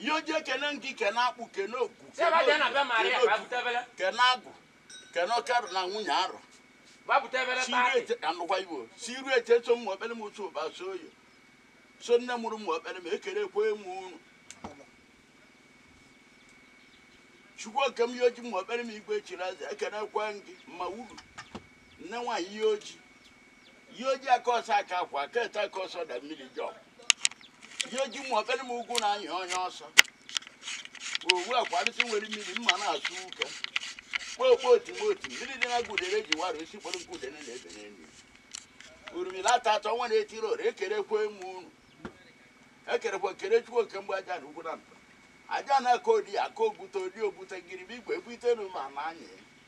ihe ọjị ekene m gị kene akpụ kene ogwu kene otu, kene otu, kene agwụ kene oke arọ na nwunye arọ anụkwa igbo si iru eche so m okpere m otu ụba so oyo so nne mụrụ m okpere m ekenekwe m unu chukwu oke m ihe ọjị m okpere m igwe chiri eze ekenekwe m gị mma wuru nne wa ihe ọjị ihe ọjị aka ọsọ aka akwa aka ete aka ọsọ da mmiri jọ ihe ọjị m okpere m ugwu na anya onye ọsọ owu akwarịsị nwere mmiri mma na-asụ ụka kpokpo otimoti mmiri dị na gudere ji wara isi kpọrọ nke udene na-ebe n'elu urumila ata atọ nwa na-etiri ora ekerekwa m unu ekerekwa kere chukwu oke mgbe aja na ugwu na mba aja na-aka odi aka ogwute odi ogwute ngirima igwe egwute na ụmụ ama anyị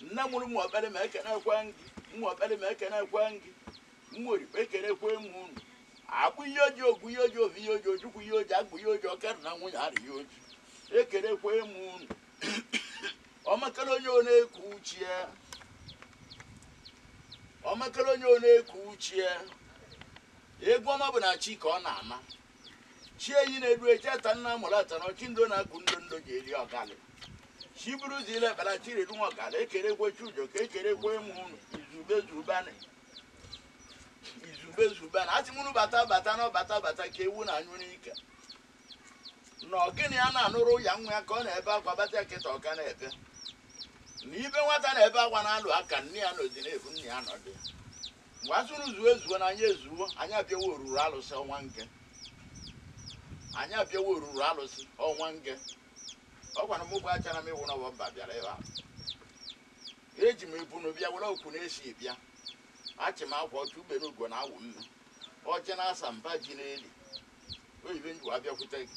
nne mụrụ mmụ ọkpere m ekenekwe m gị mmụ ọkpere m ekenekwe m gị mmụọ orie ekenekwe m unu akpụ ihe ọjị ogwu ihe ọjị ovi ihe ọjị ojukwu ihe ọjị agwụ ihe ọjị oke arọ na nwunye arọ ihe ọjị ekenekwe m unu ọmakara onye ọ na-eku uchie ọmakara onye ọ na-eku uchie egwu ọma bụ na chi ka ọ na-ama chi enyi na-edu echeta nna mụrụ ata na ọchị ndo na-akụ ndo ndo ji eri ọgalị chi buru ụzọ ile ekpere chi redu nwa ọgalị ekenekwe chukwu oke ekenekwe m unu izube zubanị izube zubanị asị m unu bata bata na ọbata bata ka ewu na-anyụ n'ike na ọgịnị ya na-anụrụ ya nwa ya ka ọ na-ebe akwa bata ya kịta ọka na-ebe na ibe nwata na-ebe akwa na-alụ aka nne ya anọdịna ebe ụ nna ya nọdụ Ngwa zuru zuo ezuo na anyị ezuo, anyị abịawa ọrụrụ alụsị ọnwa nke. Anyị abịawa ọrụrụ alụsị ọnwa nke. Ọ gwara m bụ achara m ịwụ n'ọbọ mba bịara ebe a. Eji m ebunu bịa were okwu na-esi bịa. Achị m akwa ọcha ugbene ugo na awụ mme. Ọjị na ose mba ji eli. Oyibe nji wa bịakwute gị.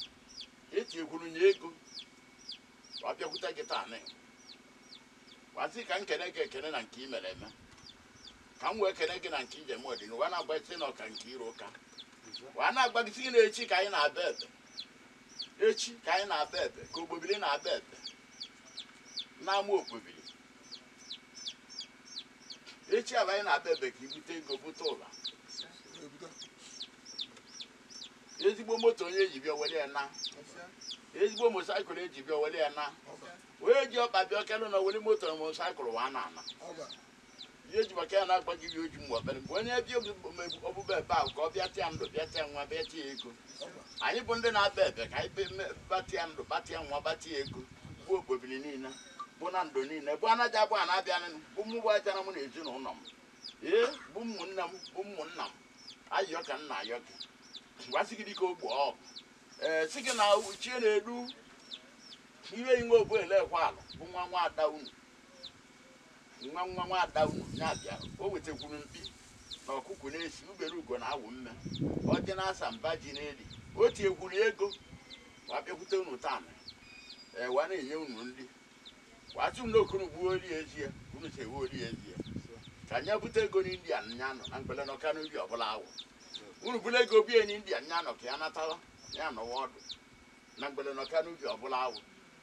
Eti ekwuru nye ego. Wa bịakwute gị taa nị. Wa sị ka m kene gị ekene na nke i mere eme. ka m wee kene gị na nke i je-eme ọdịnihu wee na-agbasi na ọka nke iro ụka wee na-agbagisi gị na echi ka anyị na-aba ebe ka ogbobili na-aba ebe n'ama ogbobili echi aba anyị na-aba ebe ka i bute ego bute ụla ezigbo moto onye ji bịa were ya na ezigbo motorcycle eji bịa were ya na onye ji ọkpa bịa ọkelụ na were moto na motorcycle wee na-ana ihe eji maka ya na-agba gị ọjị mgbe ọkpere bụ onye bịa ọbụba ebe ahụ ka ọ bịatịa ndụ bịatịa nwa bịatịa ego anyị bụ ndị na-aba ebe ka anyị batịa ndụ batịa nwa batịa ego bụ okpobiri niile bụ na ndụ niile bụ anaghị abụ a na-abịa bụ mụ bụ ajara m na ezinụlọ m ee bụ ụmụnne m bụ ụmụnna m ayọ ka m na-ayọ gị gwasị gị dịka ogbo ọgụ ee sị gị na uchie na-edu ihe inwe obu elekwa ala bụ nwa nwa ada unu Nwa nwa nwa ada unu ya bịa, o wetekwuru mkpi na ọkụkụ na-esi ubere ugo na awụ mme, ọjị na asa mba ji n'eli, o tinyekwuru ego wa bịakwute unu tana, e wa na-enye unu nri, wa sị unu ka unu gbuo oli ezie, unu si ewe oli ezie, ka nya bute ego n'India nya nọ na mgbele nọ ka n'ubi ọbụla awụ, unu bụla ego bie n'India nya nọ ka ya natawa ya nọwa ọdụ na mgbele nọ ka n'ubi ọbụla awụ.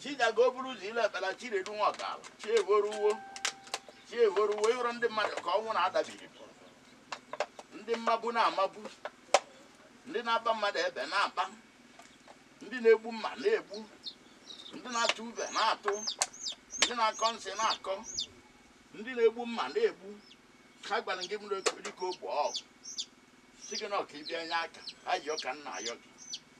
Chija ka o buru ụzọ ile ekpela Chinedu Nwọkala chi evoruwo chi evoruwo ị hụrụ ndị mmadụ ka ọnwụ na-adabiri ndị mmagbu na-amagbu ndị na-agba mmadụ egbe na-agba ndị na-egbu mma na-egbu ndị na-atụ ube na-atụ ndị na-akọ nsị na-akọ ndị na-egbu mma na-egbu ha gwara gị mere dịka ogbe ọgwụ sị gị na ọ ka ị bịa nye aka ayọ ka m na-ayọ gị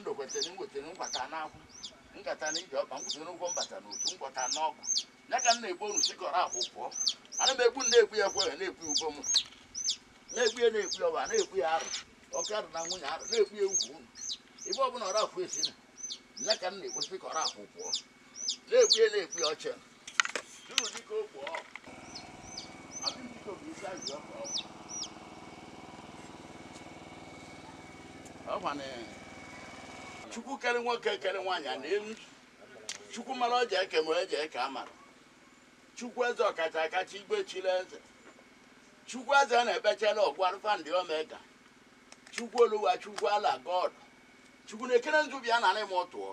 ndokwetere nwetara nkwata n'akwụ nkata na ije ọkpa nkwụsịrị n'ụgwọ mbata na otu nkwata n'ọgụ ya ka m na-egbu unu sikọrọ akwụ pụọ ana m egbu na-egbu ya ekwe na-egbu ya ugbo m na-egbu ya na-egbu ya ọba na-egbu ya arụ oke arụ na nwunye arụ na-egbu ya ugwu unu ibe ọbụla ọra akwụ esi na ya ka m na-egbu sikọrọ akwụ pụọ na-ekwu ya na-ekwu ya ọchị jụrụ dịka okwu ọ abịm dịka obi isi ajụ ọkụ ọkụ ọkwa na chukwu kere nwoke kere nwaanyị a na elu chukwu mara ọ ji eke ma eji eke amara chukwu eze ọkacha akacha igwe chiri eze chukwu eze na-ebechela ọ gwụ alpha and omega chukwu oluwa chukwu allah god chukwu nekere nzu bịa narị m tụọ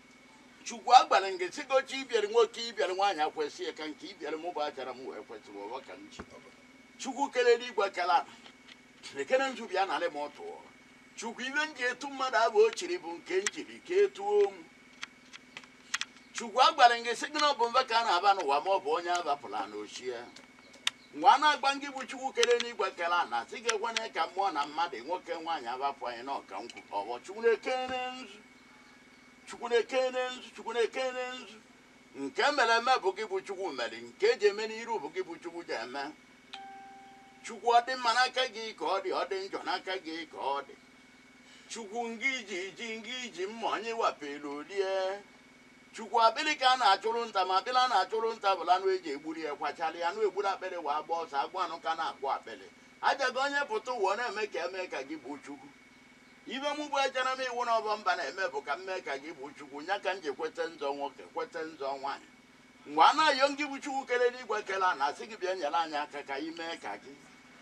Chukwu agwara m gị sị gị oche ibiere nwoke ibiere nwaanyị akwesị ya ka nke ibiere m bụ achara m wee kwesị wee ọka m ji chukwu kere eluigwe kere ala lekere nzu bịa narị m tụọ chukwu ibe m ji etu mmadụ abụ o chiri bụ nke m jiri ka etuo m chukwu agwara m gị sị gị na ọ bụ mba ka a na-aba n'ụwa ma ọ bụ onye abapụla na ochie nwa na-agwa ngị bụ chukwu kere n'igwe kere ala sị gị ekwana ka mmụọ na mmadụ nwoke nwaanyị abapụ anyị na ọka nkwụ ọbọ chukwu nekere nzu Chukwu na-ekene nzu, Chukwu na-ekene nzu. Nke mere eme bụ gị bụ Chukwu mere, nke eji eme n'iru bụ gị bụ Chukwu ji eme. Chukwu ọ dị mma n'aka gị ka ọ dị, ọ dị njọ n'aka gị ka ọ dị. Chukwu ngị ji ji ngị ji mma onye wapelu o lie. Chukwu akpịrị ka a na-achụrụ nta ma akpịrị a na-achụrụ nta bụla anụ eji egburi ya kwachara ya anụ egburu akpịrị wee agba ọsọ agwa anụ ka na-akwụ akpịrị. Aja gị onye pụta ụwa ọ na-eme ka eme ka gị bụ Chukwu. Ive mụ bụ ejana m iwu na ọbọ mba na-eme bụ ka m mee ka Gị bụ Chukwu, nya ka m ji kwete nzọ nwoke, kwete nzọ nwaanyị. Ngwa na-ayọ Ngị bụ Chukwu kere eluigwe kere ana, asị Gị bịa nyere anyị aka ka anyị mee ka Gi.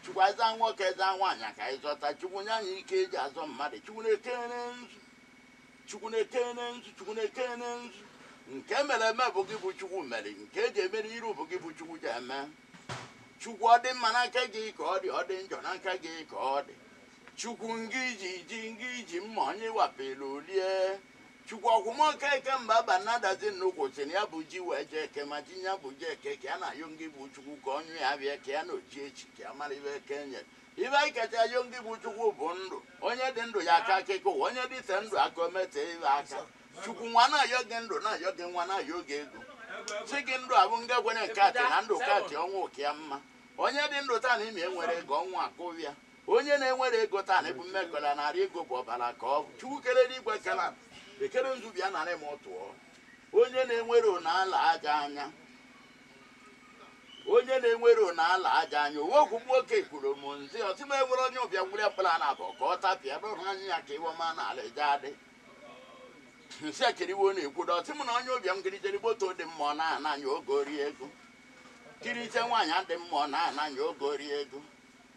Chukwu anyị zọọ nwoke, anyị zọọ nwaanyị ka anyị zọta. Chukwu nye anyị ike eji azọ mmadụ. Chukwu na-ekene nzu. Chukwu na-ekene nzu. Chukwu na-ekene nzu. Nke mere eme bụ Gị bụ Chukwu mere. Nke eji eme n'iru bụ Gị bụ Chukwu ji eme. Chukwu ọ dị mma n'aka Gị ka ọ dị, ọ dị njọ n'aka Gị ka ọ dị. Chukwu ngị ji ji ngị ji mma onye wapelu o lie. Chukwu ọkwụmọka eke mba ba nadazi nnukwu sị na ya bu ji wee jee Eke ma ji nya bu je Eke ka ya na-ayọ ngị bụ Chukwu ka onye ya bịa ka ya na oji echi ka ya mara ive Eke nyere. Ive anyị kacha ayọ ngị bụ Chukwu bụ ndụ. Onye dị ndụ ya akọ akịkọ ụwa onye dịte ndụ aka o metee ive aka. Chukwu nwa na-ayọ gị ndụ na-ayọ gị nwa na-ayọ gị ego. Sị gị ndụ abụ nga kwere nke atị na ndụ katị ọnwụ ụka ya mma. Onye dị ndụ taa na ime enwere ego ọnwụ akụbịa. Onye na enwere ego taa na ebu mme kọla nara ego bụ ọbara ka ọ bụ. Chukwu kere eluigwe kere ala ekene nzu bịa nara m tụọ. Onye na enwero na ala aja anya onye na enwero na ala aja anya owe okwu nwoke kwuru m nzi ọ sị m enwere onye ụbịam gwụrụ ya mkpụrụ ana abụọ ka ọ tapịa dọrọ anya ya ka iwe ma na ala eje adị nsị akiriwo na-ekwu dọ ọ sị m na onye ụbịam kirichere moto dị mma ọ na-ana anya oge ori ego kiriche nwaanyị dị mma ọ na-ana anya oge ori ego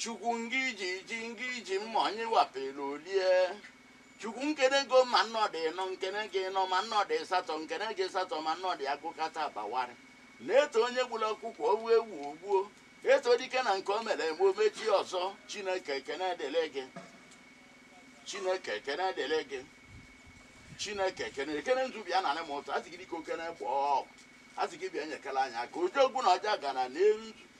Chukwu ngị ji ji ngị ji mma onye wapelu o lie. Chukwu nkene gị o ma nnọdụ ịnọ nkene gị ịnọ ma nnọdụ ịsatọ nkene gị ịsatọ ma nnọdụ agụkata agba awarị. Na e too onye gburu ọkụkọ o wee ewu o gbuo. E too dike na nke o mere eme o mechie ọzọ. Chineke ekene dịrị gị. Chineke ekene dịrị gị. Chineke na-ekene nzu bịa nara m tụọ asị gị dịka okene gbọọ asị gị bịa nyekere anyị aka oji ogwu na ọja gara n'elu nzu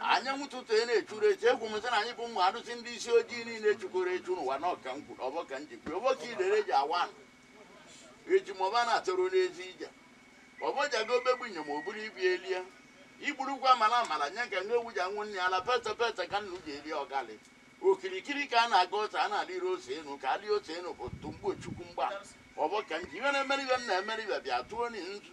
anyanwụ ụtụtụ na-echuru echi egwu m sị na anyị bụ ụmụ arụsị ndị isi ojii niile chukoro echu n'ụwa na ọka nkwuru ọvọ ka m ji kwuru ọvọ ka idere ji awa ana eji ma ọba na-atụrụ n'ezi ije ọvọ ji aga obegbu inyom o buru ibi elie igburukwa amala amala nye ka nwa ewu ji aṅụ nne ya ala peta peta ka nnu ji eri ọgali okirikiri ka a na-aga ose ana alịrọ ose enu ka alị ose enu bụ tumgbo chukwu mgba ọvọ ka m ji ihe na-emere ibe m na-emere ibe bịa tụọ ni nzu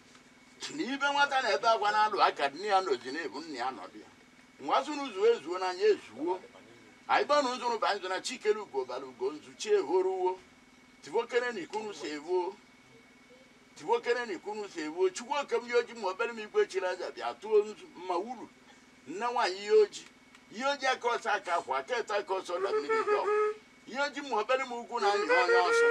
na ibe nwata na-ebe akwa na-alụ aka nne ya nọzi na-ebu nne ya nọdụ ya nwa zụrụ zuo ezuo n'anya ezuo anyị gbanụ nzụrụ ba nzụ na chi kere ugo bara ugo nzu chi ehoruwo tivokere na ikunu si evo tivokere na ikunu si evo chukwu oke m Iyi Oji ma obere m igwe chiri aja bịa tụọ nzu mma wuru nne nwaanyị Iyi Oji Iyi Oji aka ọsọ aka akwa aka eto aka ọsọ na mmiri dị ọkụ Iyi Oji ma obere m ugwu na anya onye ọsọ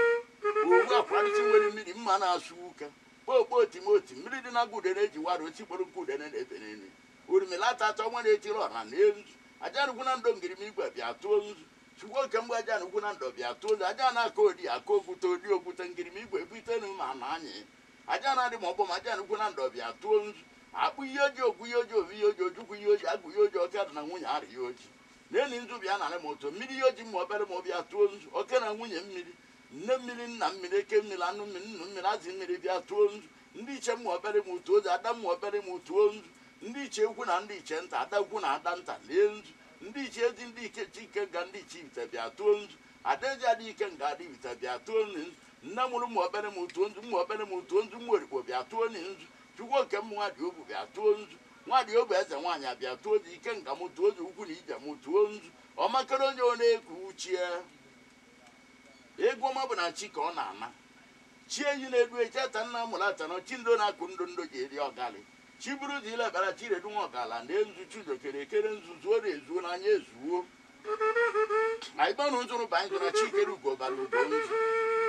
owu akwarịsị nwere mmiri mma na-asụ ụka Kpoo kpoo tim o tim, mmiri dị na ngụ udene eji wara osisi kpọrọ nkụ udene na-ebe n'elu. Orimili ata ata ọnwa na-etiri ọra lee nzu. Ajana ukwu na ndo ngirima igwe bịa tụọ nzu. Chukwu oke mgbe Ajana ukwu na ndo bịa tụọ nzu. Ajana akọ odi akọ ogwute odi ogwute ngirima igwe ebute n'ume ana anyị. Ajana adị ma ọgbọ ma Ajana ukwu na ndo bịa tụọ nzu. Akpụ Iyi Oji ogwu Iyi Oji ovi Iyi Oji ojukwu Iyi Oji agwụ Iyi Oji ọka dị na nwunye ara Iyi Oji. Nee ni nzu bịa nara ma otu mmiri Iyi Oji mma obere ma o bịa tụọ nzu. Oke na nwunye mmiri. Nne mmiri, nna mmiri, eke mmiri, anụ mmiri, nnụ mmiri, azị mmiri bịa tụọ nzu. Ndị ichie ụmụ obere m tụọ nzu, ada ụmụ obere m tụọ nzu. Ndị ichie ukwu na ndị ichie nta, ada ukwu na ada nta lie nzu. Ndị ichie Ezi, ndị ichie Ikenga, ndị ichie Ibite bịa tụọ nzu. Ada Ezi, ada Ikenga, ada Ibite bịa tụọ ni nzu. Nne mụrụ ụmụ obere m tụọ nzu, ụmụ obere m tụọ nzu, ụmụ orikpo bịa tụọ ni nzu. Chukwu oke mụ nwa dị obu bịa tụọ nzu. Nwa dị obu eze nwaanyị a bịa tụọ nzu, ikenga mụ tụọ nzu, ụkwụ na ije mụ tụọ nzu. Ọmakere onye ọ na-eku uchie. Egwu ọma bụ na chi ka ọ na-ana. Chi eyi na-edu eyi, chi ata nna mụrụ ata nọ, chi ndo na-akụ ndo ndo ji eri ọgalị. Chi buru ụzọ ile bara, chi redu nwa ọgala nee nzu, chi udo kere ekere nzu, zuo ri ezuo na anya ezuo. Anyị gbanụ nzụrụ ba nzụ na chi kere ugo bara ugo nzu.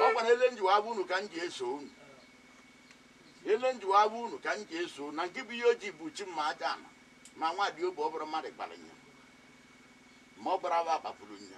Ọ gwara ele njiwa abụ unu ka m ji eso unu. Ele njiwa abụ unu ka m ji eso unu. Na nke bụ Iyi Oji bụ chi mma Ajana. Ma nwa dị obu ọ bụrụ mmadụ gbara nya. Ma ọ gbara aba agbapụrụ nya.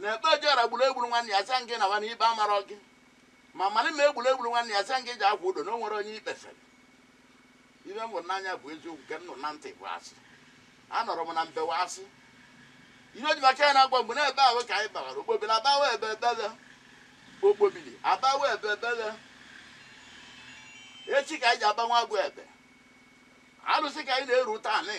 na ikpe ojọra gburu egburu nwanne ya sị gị na nwanne ikpe amarọ gị ma mara ma egburu egburu nwanne ya sị gị ji akwa udo na o nwere onye ikpefere ihe m hụrụ n'anya bụ eziokwu nke m nụrụ na ntị bụ asị anọrọ m na mbewa asị Iyi Oji maka ya na-agwa mgbe na-ebe ahụ ka anyị bawara okpobiri abawa ebe ebele okpobiri abawa ebe ebele echi ka anyị ji agbanwe agwa ebe alụsị ka anyị na-eru taa nị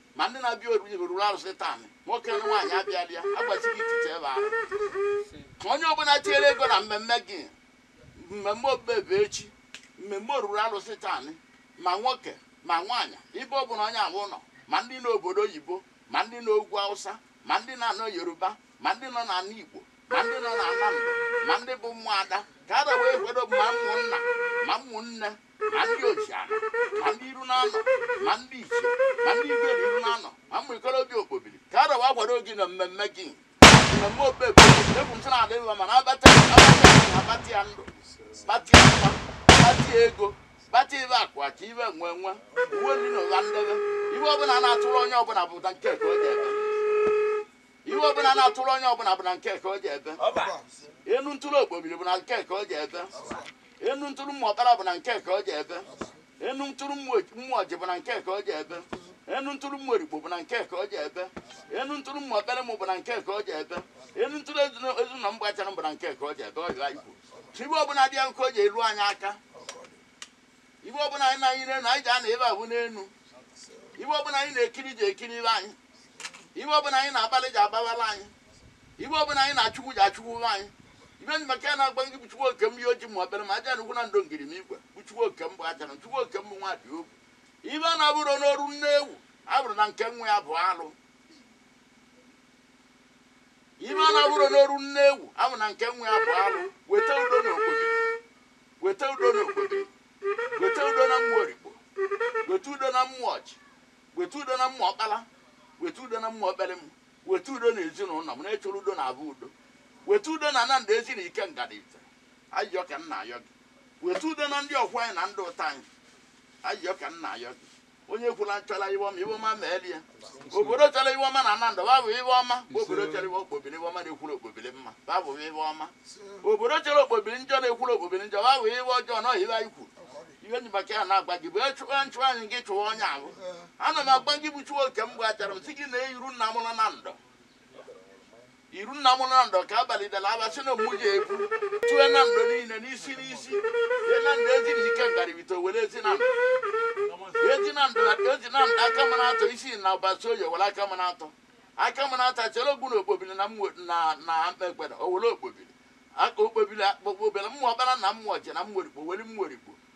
Ma ndị na-abịa oriri rụrụ arụsị taa anị, nwoke na nwaanyị abịala ya, agbachighị ichiche ebe ahụ. Onye ọbụla tinyere ego na mmemme gị, mmemme obebe echi, mmemme oruru arụsị taa anị, ma nwoke ma nwaanyị, ibe ọ bụla onye ahụ nọ, ma ndị nọ obodo oyibo, ma ndị nọ ugwu Hausa, ma ndị na-anọ Yoruba, ma ndị nọ n'ala Igbo, ma ndị nọ n'ala Mba, ma ndị bụ ụmụada, ka a wee kwado ma ụmụnna ma ụmụnne ma ndị ojiana ma ndị iru na-anọ ma ndị ichie ma ndị igwe na iru na-anọ ma ụmụ ikorobịa okpobiri ka a wee kwado gị na mmemme gị mmemme okpebe egwu ntụ na-adị mma mana abata abata ya ndụ bata ya mma bata ya ego bata ibe akwa ka ibe nwe nwe uwe ndị na ụwa ndebe ihe ọbụla na-atụrụ onye ọbụla bụ na nke ka o ji ebe ihe ọbụla na-atụrụ onye ọbụla bụ na nke ka o ji ebe enu ntụrụ okpobiri bụ na nke ka o ji ebe enu ntụrụ ụmụ ọkpara bụ na nke ka o ji ebe enu ntụrụ ụmụ ọjị bụ na nke ka o ji ebe enu ntụrụ ụmụ orikpo bụ na nke ka o ji ebe enu ntụrụ ụmụ ọkpere mụ bụ na nke ka o ji ebe enu ntụrụ ezinụlọ mgbachara bụ na nke ka o ji ebe ọ jụrụ anyị kwuru ihe ọbụla dị ya nke o ji elu anyị aka Ihe ọbụla anyị na-anyị n'elu, anyị ji ana ebe a bụ n'elu. Ihe ọbụla anyị na-ekiri ji ekiri ibe anyị. Ihe ọbụla anyị na-agbalị ji agbabala anyị. Ihe ọbụla anyị na-achụkwu ji achụkwu ibe anyị. Ihe nji maka ya na-agba gị bụ Chukwu oke m ihe oji ma obere ma aja n'ukwu na ndụ ngiri na igwe bụ Chukwu oke m bụ aja na Chukwu oke m bụ nwa dị ogwu. Ihe a na-abụrụ n'oru nne ewu, a bụrụ na nke nwa ya bụ alụ. Ihe a na-abụrụ n'oru nne ewu, a bụ na nke nwa ya bụ alụ. Weta udo n'obodo. weta udo n'okpobili weta udo na ụmụ orikpo weta udo na ụmụ ọjị weta udo na ụmụ ọkpala weta udo na ụmụ ọkpere m weta udo na ezinụlọ m na-echọrọ udo na abụ udo weta udo na ana nando ezi na ikenga ifite ayọ ka m na-ayọ gị weta udo na ndị ọkwọ anyị na ndị ụta anyị ayọ ka m na-ayọ gị onye kwula nchọla ihe ọma ihe ọma meeli ya obodo chọrọ ihe ọma na ana nando babụ ihe ọma obodo chọrọ ihe okpobili ihe ọma na-ekwuru okpobili mma babụ ihe ọma obodo chọrọ okpobili njọ na-ekwuru okpobili njọ babụ ihe ọjọọ na ọhịa anyị kwuru ihe nji maka ya na-agba gị bụ echụwa nchụwa anyị gị chụwa onye ahụ ana m agba gị bụ chukwu oke mgbachara m si gị na iru nna mụrụ nando iru nna m nando ka abalị dara aba sị na mụ ji ebu tue nando niile n'isi n'isi ye nando ezi na ikenga ifite were ezi nando ezi nando ezi nando akamanatọ isinyi ụbasioye were akamanatọ akamanatọ chere ogbu na okpobili na mmụọ na na mkpekpere o were okpobili aka okpobili akpọkpọ obere ụmụ ọkpara na ụmụ ọjị na ụmụ orikpo were ụmụ orikpo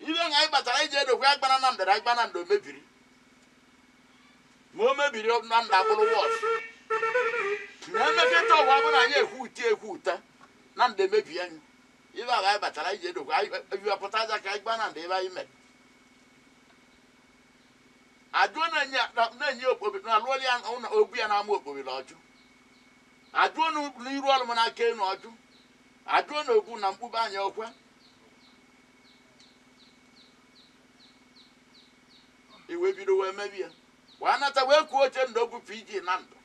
ihe nga anyị batara iji edokwe agbana na ndara agba nando mebiri ma o mebiri nando abụrụ worse na emeketa ọgwa bụ na anyị ekwu uti ekwu ụta nando emebi anyị ihe ahụ anyị batara iji edokwe anyị ebiwapụta aja ka anyị gba nando ebe anyị mere ajụọ na-enye na-enye okpobi na alụọli ya ụlọ ogbu ya na-ama okpobiri ọjụ ajụọ na n'iru ọrụ m n'aka enu ọjụ ajụọ na ogbu na mkpụba anya ọkwa iwe bido wee mebi ya wee nata wee kwuo ochendo bụ pg nando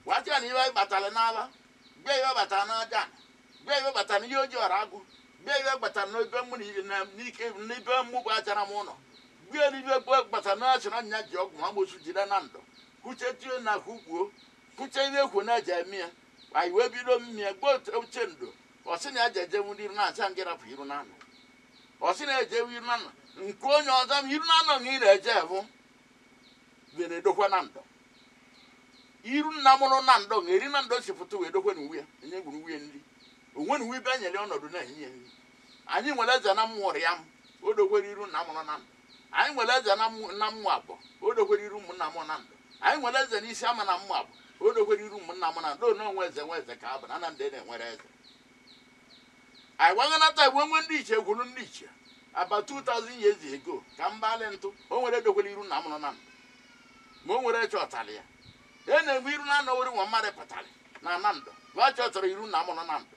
wee sị ya na iwe anyị batara n'ala mgbe iwe batara n'aja mgbe iwe batara n'iyi oji ọra agụ mgbe iwe batara n'ebe mụ na i- na- n'ike n'ebe mụ bụ achara m ụlọ gbe n'ibe gbe batara n'asị na nya ji ọgwụ ma amosu jide nando kwuche tie na kwukwuo kwuche ihe ekwu na eji eme ya anyị wee bido mmịa gbe ochendo ọ sị na ya ji ejewu ndị iru na asị ya ngị rapụ iru nando ọ sị na ya ejewu iru nando nke onye ọzọ m iru nando na ị na-eje bụ gị na-edokwa nando iru nna mụrụ nando na eri nando si pụta wee dokwe na uwe ya enye gwuru uwe nri onwe na uwe ibe nyere ọnọdụ na-enye ya nri anyị nwere eze na mmụrụ ya m o dokwere iru nna mụrụ nando Anyị nwere eze na Mo- na Moab, o dokwere iru ụmụnna m Nando. Anyị nwere eze n'isi ama na Moab, o dokwere iru ụmụnna m Nando. Ono onwe eze nwe eze ka abụ na na ndị na-enwere eze. Anyị gbaghọnata igwe nwe ndị ichie gwuru ndị ichie. About 2000 years ago ka mbalị ntụ o nwere edokwere iru nna mụrụ Nando. Ma o nwere chọtara ya. E na-egbu iru na anọwori nwa mmadụ pụtara na Nando. Gwa chọtara iru nna mụrụ Nando.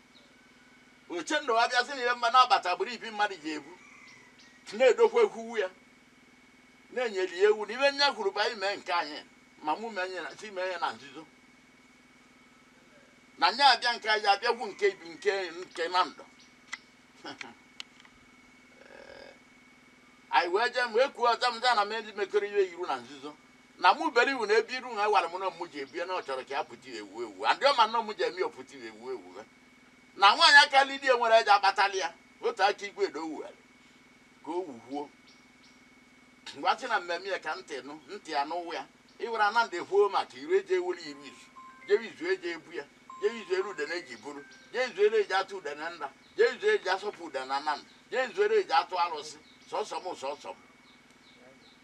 ochendo abịazi na ihe mma na-abata agbụrụ ibi mmadụ ji ebu na-edokwa ekwuwu ya na-enyeli ya ewu na ibe nya kwuru ba ime nke anyị ma mụ mee ya na- si mee ya na nzuzo na nya abịa nke anyị abịagwu nke ibi nke nke nando anyị wee jee wee kwuo ọzọ m za na m ndị mekọrọ ihe iru na nzuzo Na mu bere iwu na ebi iru nha iwara mu nọ mu ji ebie na ọ chọrọ ka ya puti ewu ewu and ọ ma nọ mu ji emi ọ puti ewu ewu me na nwaanyị aka li die nwere eja kpatali ya otu aka igwe do wughari ka o wuhuo ngwa si na mmemme ya ka ntị nụ ntị ya n'ụwa ya iwere ana ndị huo maka iru eji ewere iru izu jewe izu eji ebu ya jewe izu ere udene eji buru jee izu ere eji atụ udene nda jee izu eji asọpụ udene na nna jee izu ere eji atụ arụsị sọsọ m sọsọ m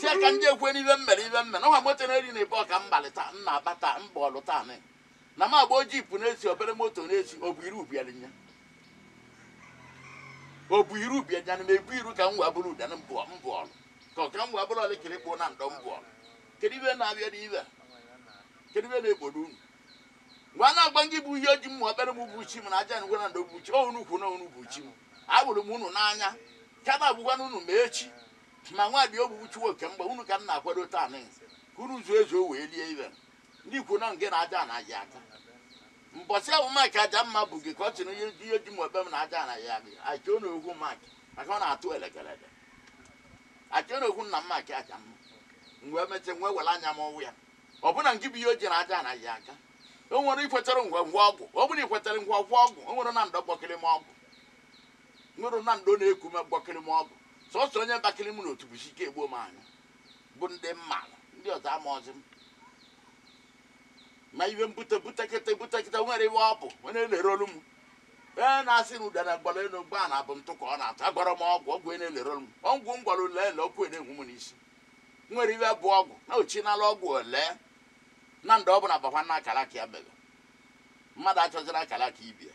si ya ka ndị ekwe n'ibe m mere ibe m mere ọha moto na-eri na ebe ọka mbalị taa m na-aba taa m gba ọlụ taa nị. na m agba ojii pụ n'ezi obere moto n'ezi ọ bụ iru bịara nya ọ bụ iru bịa nya na m ebu iru ka m wee bụrụ ụdana mbụ mbụ ọlụ ka ọ ka m wee bụrụ ọlị kiri kpụ nando mbụ ọlụ kedu ibe na-abịa n'ibe a? kedu ibe na-egbodo unu mgbe a na-agba gị bụ iyi oji m ma obere m bụ chi m na aja ngwa nando bụ chi ọ unu kwu na unu bụ chi m agbụrụ m unu n'anya ka na-agwụkwana unu ma echi Ma nwadị obu uchuwa oke mgba, unu ka m na-akwado taa nị, ka unu zuo ezuo wee rie ibe m. Ndị kwu nọ ngị na aja anaghị ata. Mbọsị ahụ Mike Ajamma bu gị ka ọ sị na ihe ji mụ ebe m na aja anaghị agị, I chọọ na okwu Mike maka ọ na-atụ elekeleke. I chọọ na okwu nna m Mike Ajamma. M wee mesịa, m wee were anya m wụ ya. Ọ bụ na ngị bụ ihe o ji na aja anaghị aka? O nwere ikwetere ngwa ngwa ọgwụ? Ọ bụrụ na ikwetere ngwa ngwa ọgwụ, o nwere na ndọ gbọkịrị m ọgwụ. Nwere na ndọ na-eku m gbọkịrị m ọgwụ. Sọsọ onye bakịrị mụ n'otu bụ Chike Egbuomanyụ bụ ndị m maara, ndị ọzọ amaghịzi m. Ma ibe m bute butekịta butekịta nwere iwe ọ bụ onye na-elerọlụ m. Ee na-asị na udara gbara elu gbaa ana ọ bụ ntụ ka ọ na-ata agwọrọ m ọgwụ ọgwụ na-elerọlụ m ọgwụ m gwọrọ ule ele ọkụ na-enwu m n'isi nwere iwe bụ ọgwụ na ochinala ọgwụ ole na ndị ọ bụla bakwaa n'akara aka ya mere mmadụ achọziri akara aka ibe ya